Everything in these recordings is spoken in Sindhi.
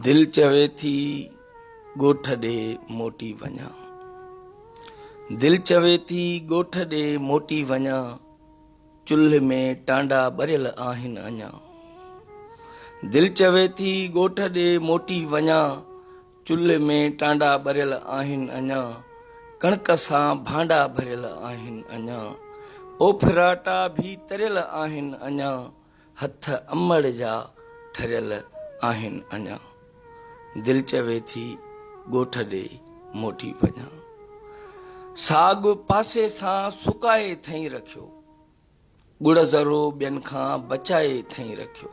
دل چوي ٿي ڳوٺ ڏي موٽي وڃان دل چوي ٿي ڳوٺ ڏي موٽي وڃان چلهه ۾ ٽانڊا ٻريل آهن اڃا دل چوي ٿي ڳوٺ ڏي موٽي وڃان چلهه ۾ ٽانڊا ٻريل آهن اڃا ڪڻڪ سان ڀانڊا ڀريل آهن اڃا او ڦراٽا ڀي تريل آهن اڃا هٿ امڙ جا ٺريل آهن اڃا. دل چوي ٿي ڳوٺ ڏي موٽي وڃان. ساڳ پاسي سان سڪائي ٿئين رکيو. ڳڙ ذرو ٻين کان بچائي ٿئين رکيو.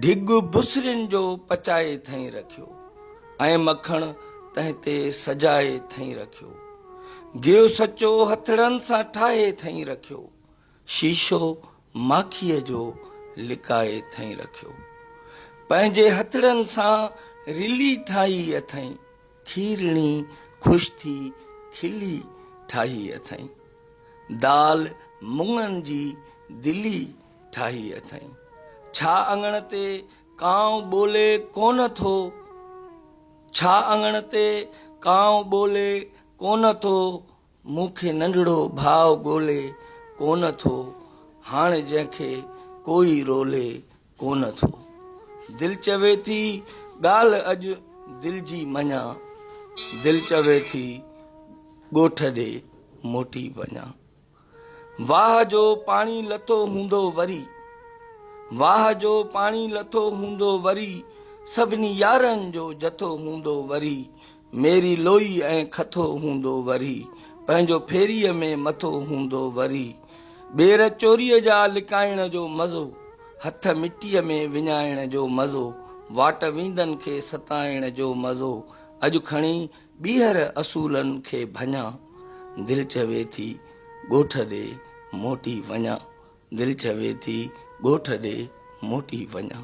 ڍڳ بسرين جو پچائي ٿئين رکيو. ۽ مکڻ تنهن تي سجائي ٿئين رکيو. گيو سچو هٿڙن سان ٺاهي ٿئين رکيو. شيشو ماکيء جو لڪائي اٿئين رکيو. پنهنجي هٿڙن سان رلي ٺاهي اٿئين. کيرڻي خوش ٿي کلي ٺاهي اٿئين. دال مڱن جي دلي ٺاهي اٿئين. ڇا اڱڻ تي ڪانء ٻولي ڪونه ٿو؟ ڇا اڱڻ تي ڪانء ٻولي ڪونه ٿو؟ مون کي ننڍڙو ڀاء ڳولي ڪونه ٿو، هاڻ جنهن کي ڪوئي رولي ڪونه ٿو. دل چوي ٿي ڳالهه اڄ دل جي مڃان، دل چوي ٿي ڳوٺ ڏي موٽي وڃان. واهه جو پاڻي لٿو هوندو وري، واهه جو پاڻي لٿو هوندو وري، سڀني يارن جو جٿو هوندو وري، ميري لوئي ۽ کٿو هوندو وري. پنهنجو ڦيريء ۾ مٿو هوندو وري. ٻير چوريء جا لڪائڻ جو مزو. هٿ مٽيء ۾ وڃائڻ جو مزو. واٽ ويندن کي ستائڻ جو مزو. اڄ کڻي ٻيهر اصولن کي ڀڃان. دل چوي ٿي ڳوٺ ڏي موٽي وڃان. دل چوي ٿي ڳوٺ ڏي موٽي وڃان.